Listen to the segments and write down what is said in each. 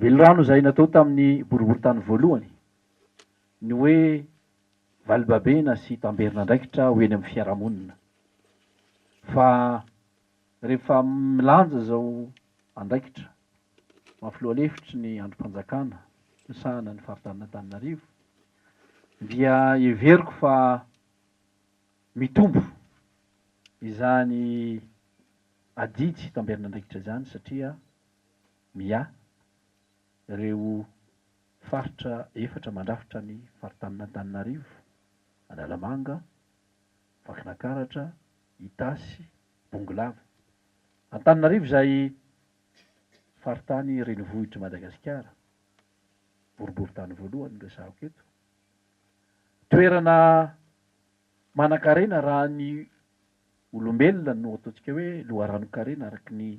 Velirano izay natao tamin'ny boriborintany voalohany ny hoe valibabena sy tamberin'andraikitra ho eny amin'ny fiarahamonina. Fa rehefa milanja izao andraikitra maha filoha lefitry ny andrim-panjakana misahana ny faritan'Antananarivo dia heveriko fa mitombo izany adidy tamberin'andraikitra izany satria miahy ireo faritra efatra mandrafitra ny faritanin'Antananarivo, Analamanga, Vakinakaratra, Itasy, Bongolava. Antananarivo izay faritany renivohitr'i Madagasikara, boriborintany voalohany no resahako eto, toerana manankarena raha ny olombelona no ataontsika hoe loharanon-karena araka ny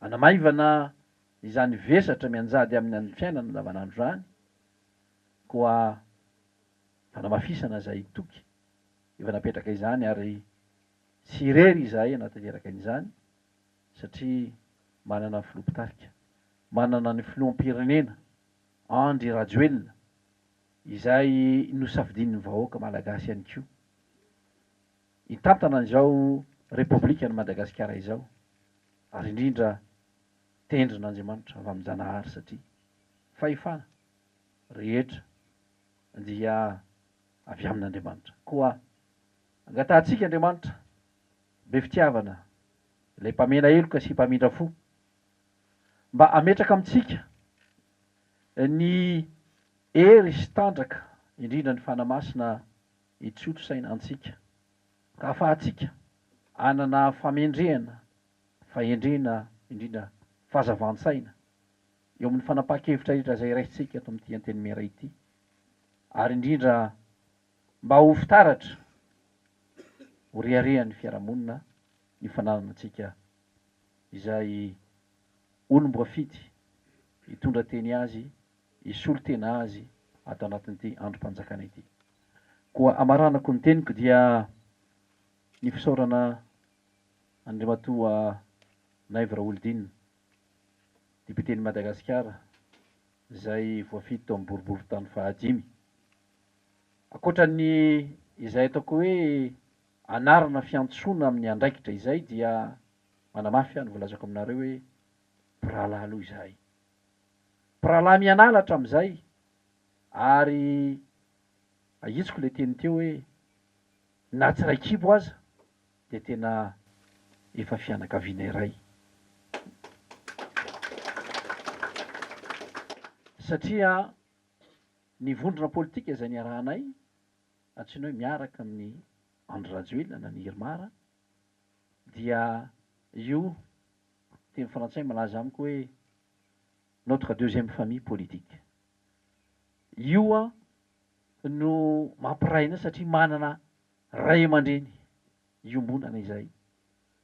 Hanamaivana izany vesatra mianjady aminy amin'ny fiainana andavanandro izany koa fanamafisana izay toky efa napetraka izany ary tsy irery izahay hanatanteraka an'izany satria manana ny filoha mpitarika, manana ny filoham-pirenena Andry Rajoelina izay nosafidian'ny vahoaka malagasy ihany koa. hitantana izao Repoblikan'i Madagasikara izao ary indrindra tendrina Andriamanitra avy amin-janahary satria fahefana rehetra dia avy amin'Andriamanitra koa angatahantsika Andriamanitra be fitiavana ilay mpamena heloka sy mpamindra fo mba hametraka amintsika ny hery sy tanjaka indrindra ny fanahy masina hitontosaina antsika. Ahafahantsika hanana famendrehana, fahendrena indrindra fahazavan-tsaina eo amin'ny fanapahan-kevitra rehetra izay raisintsika eto amin'ity Antenimiera ity ary indrindra mba ho fitaratra ho reharehan'ny fiarahamonina ny fananana antsika izay olom-boafidy hitondra teny azy, hisolo tena azy ato anatin'ity androm-panjakana ity. Koa hamaranako ny teniko dia ny fisaorana an'Andriamatoa Naivo Raholdina, Depioten'i Madagasikara izay voafidy tao amin'ny boriborintany fahadimy. Ankoatra ny izay ataoko hoe anarana fiantsoana amin'ny andraikitra izay dia manamafy aho ny voalazako aminareo hoe mpirahalahy aloha izahay. Mpirahalahy mianala hatramin'izay ary ahitsiko ilay teny teo hoe na tsy iray kibo aza dia tena efa fianakaviana iray satria ny vondrona politika izay niarahanay antsoina hoe miaraka amin'i Andry Rajoelina na ny Irmar dia io teny frantsay malaza amiko hoe notre deuxième famille politique. Io no mampiray anay satria manana ray aman-dreny iombonana izay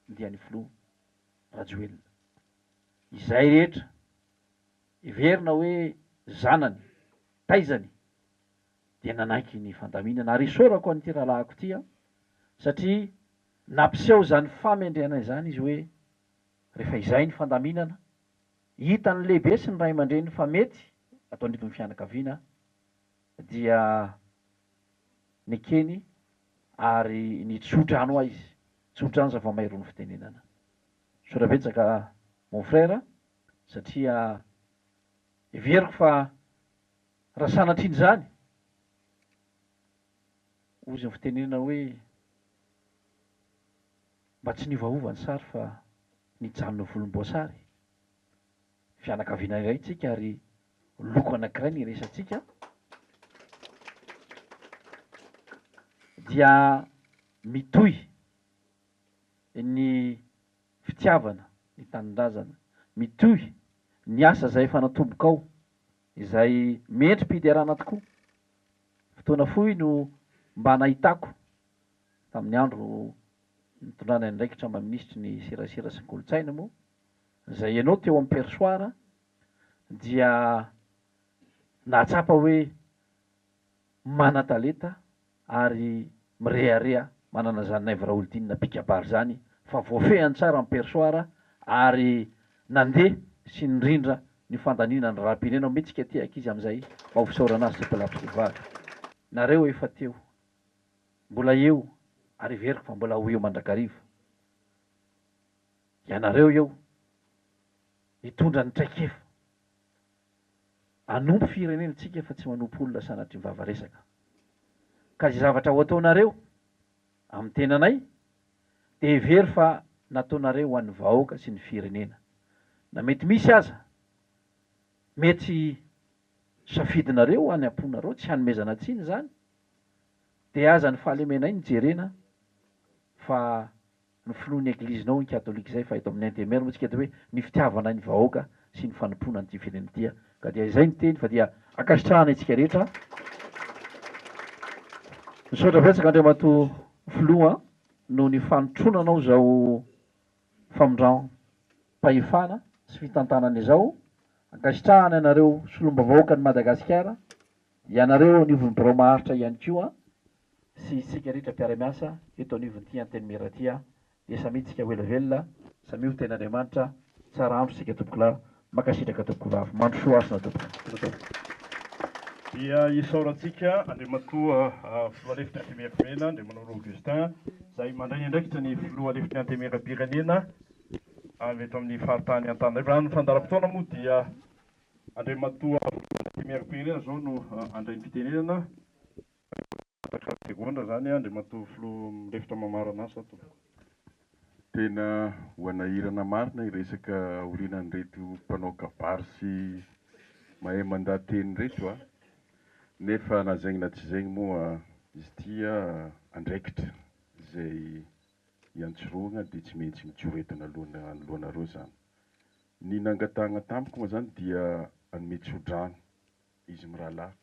dia ny filoha Rajoelina. Izay rehetra heverina hoe zanany, taizany dia nanaiky ny fandaminana ary isaorako an'ity rahalahiko ity an, satria nampiseho izany famendrehana izany izy hoe rehefa izay ny fandaminana, hitan'ny lehibe sy ny ray aman-dreny fa mety ato anivon'ny fianakaviana dia nekeny ary nitsotra any hoa izy, tsotra any izay vao may irony fitenenana. Misaotra betsaka mon frère satria heveriko fa raha sanatria an'izany hoy izy ny fitenenana hoe mba tsy niovaova ny sary fa Nijanona volomboasary. Fianakaviana iray tsika ary loko anankiray ny resatsika. Dia mitohy ny fitiavana ny tanindrazana. Mitohy ny asa izay efa natombokao, izay mendri-piderana tokoa. Fotoana fohy no mba nahitako tamin'ny andro. nitondrana ny andraikitra maha minisitry ny serasera sy ny kolontsaina moa izay ianao teo amin'ny perchoir dia nahatsapa hoe manan-talenta ary mirehareha manana izany Naivo Raholdina mpikabary izany fa voafehiny tsara ny perchoir ary nandeha sy nirindra ny fandaniana ny raharaham-pirenena omeo tsika ity ankizy amin'izay mba ho fisaorana azy sy mpilabozivavy nareo efa teo Mbola eo ary heveriko fa mbola ho eo mandrakariva ianareo eo hitondra ny traikefa hanompo firenentsika fa tsy manompo olona sanatria mivava resaka ka izay zavatra ho ataonareo amin'ny tenanay dia hevero fa nataonareo ho an'ny vahoaka sy ny firenena na mety misy aza mety safidinareo any am-ponareo tsy hanomezana tsiny izany Dia aza ny fahalemenay no jerena fa ny finoan'ny eglizinao ny katolika izay fa eto amin'ny NTMR moa tsika dia hoe ny fitiavanay ny vahoaka sy ny fanompoana an'ity firenena ity ka dia izay no teny fa dia ankasitrahana antsika rehetra. Misaotra betsaka Andriamatoa Filoha noho ny fanotronanao izao famindram-pahefana sy fitantanana izao. Ankasitrahana anareo Solombavahoakan'i Madagasikara Ianareo eo anivon'ny birao maharitra ihany koa sy isika rehetra mpiara-miasa eto anivon'ity Antenimiera ity dia samia tsika ho ela velona, samia ho ten'Andriamanitra, tsara andro isika tompokolahy, mankasitraka tompokovavy, mandrosoa hasina tompoko. Dia isaorantsika Andriamatoa Filoha Lefitry Antemieramena Andriamanoro Augustin izay mandray ny andraikitra ny Filoha Lefitry ny Antemieram-pirenena avy eto amin'ny faritany Antananarivo. Raha ny fandaharam-potoana moa dia Andriamatoa Vladimir Pereira izao no handray ny fitenenana. Mangataka segondra izany Andriamatoa Filoha mirefitra mamarana azy sa Tompoko. Tena hoanahirana marina iresaka aorinan'ireto mpanao kabary sy mahay mandà teny ireto a! Nefa na zegny na tsy zegny moa izy ity a, andraikitra izay iantsorohagna dia tsy maintsy mitsoretana aloha anoloanareo izany. Ny nangatahagna tamiko moa zany dia hanome tso-drano izy mirahalahy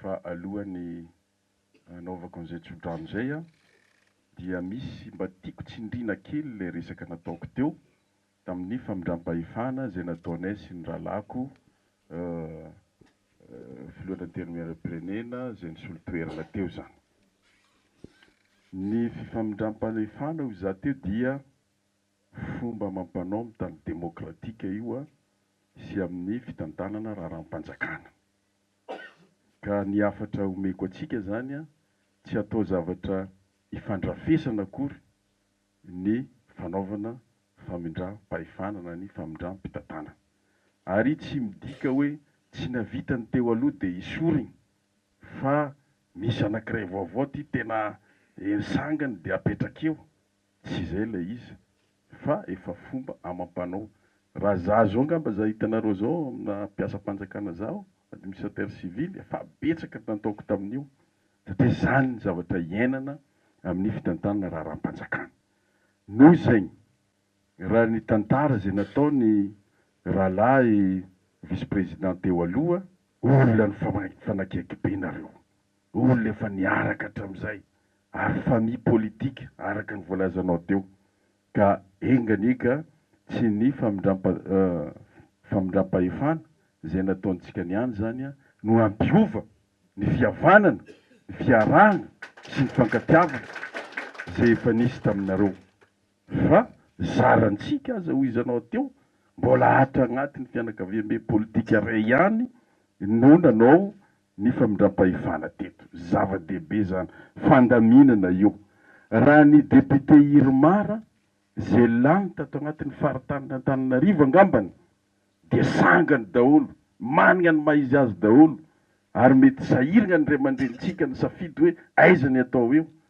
fa alohan'ny hanaovako an'izay tso-drano izay an, dia misy mba tiako tsindrina kely ilay resaka nataoko teo tamin'ny famindram-pahefana izay nataonay sy ny rahalahiko Filohan'ny Antenimierampirenena izay nisolo toerana teo izany. Ny fifamindram-pahefana hoy izaho teo dia fomba amam-panao mitandro demokratika io sy amin'ny fitantanana raharaham-panjakana. Ka ny hafatra omeko antsika izany, tsy hatao zavatra ifandrafesana akory ny fanaovana famindram-pahefana na ny famindram-pitantanana. Ary tsy midika hoe tsy nahavita ny teo aloha dia hisorigny fa misy anankiray vaovao ty tena hery sangany dia apetrakeo. Tsy izay ilay izy fa efa fomba amam-panao. Raha za zao ngamba za hitanareo zao amina mpiasam-panjakana za aho, administrateur civil, efa betsaka nataoko tamin'io satria zany ny zavatra iainana amin'ny fitantanana raharaham-panjakana. Noho izay, raha ny tantara izay nataony rahalahy vice-président teo aloha, olona ny fanakiakibe nareo. Olona efa niaraka hatramin'izay ary famille politique araka ny voalazanao teo ka enga anie ka tsy ny famindram-pahefana izay nataontsika ny any izany no hampiova ny fihavanana, ny fiarahana sy ny fifankatiavana izay efa nisy taminareo. Fa zarantsika aza hoy izy anao teo, mbola ato agnatiny fianakaviambe politika ray ihany no nanao ny famindram-pahefana teto. Zava-dehibe izany fandaminana io. Raha ny député Irmar izay lany tato agnatiny faritanin' Antananarivo angambany dia sangany daholo, manigna ny maha izy azy daholo ary mety sahirigna ny ray aman-drenintsika nisafidy hoe aiza ny atao eo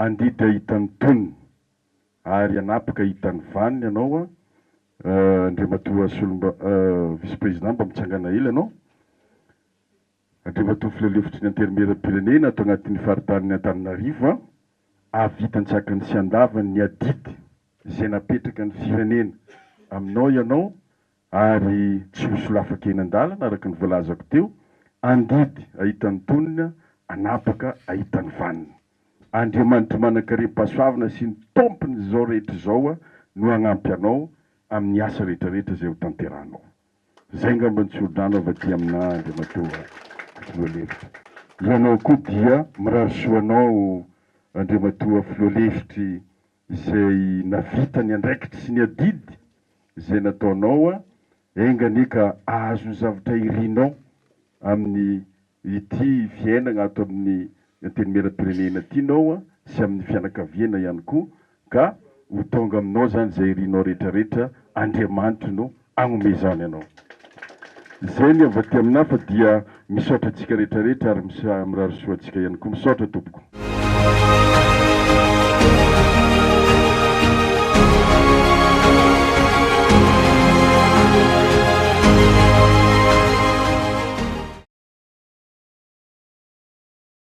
Andidra hitan'ny tonony ary hanapaka hitan'ny vaniny ianao an! Andriamatoa Solomba, Vice Président mba mitsangana ela ianao. Andriamatoa Filohalefitry ny Antenimierampirenena ato anatin'ny Faritanin'ny Antananarivo an! Hahavita an-tsakany sy an-davany ny adidy izay napetraka ny Firenena aminao ianao ary tsy ho solafaka eny an-dalana araka ny voalazako teo, andidy ahita ny tonony, anapaka ahita ny vaniny. Andriamanitr'i Manankarem-pahasoavina sy ny Tompon'izao rehetra izao no hagnampy anao amin'ny asa rehetra rehetra izay ho tanterahanao. Izay ngamba ny tsolodrano avy aty aminà Andriamatoa Filohalefitra. Ianao koa dia mirary soa anao Andriamatoa Filohalefitry izay navita ny andraikitry sy ny adidy izay nataonao a, enga anie ka ahazo ny zavatra irinao amin'ny ity fiainagna ato amin'ny Antenimierampirenena ty nao a, sy amin'ny fianakaviana ihany koa, ka ho tonga aminao zany izay irinao rehetra rehetra, Andriamanitro no agnomezany anao zay ny avy aty aminah fa dia misaotra antsika rehetra rehetra ary mirary soa antsika ihany koa misaotra tompoko.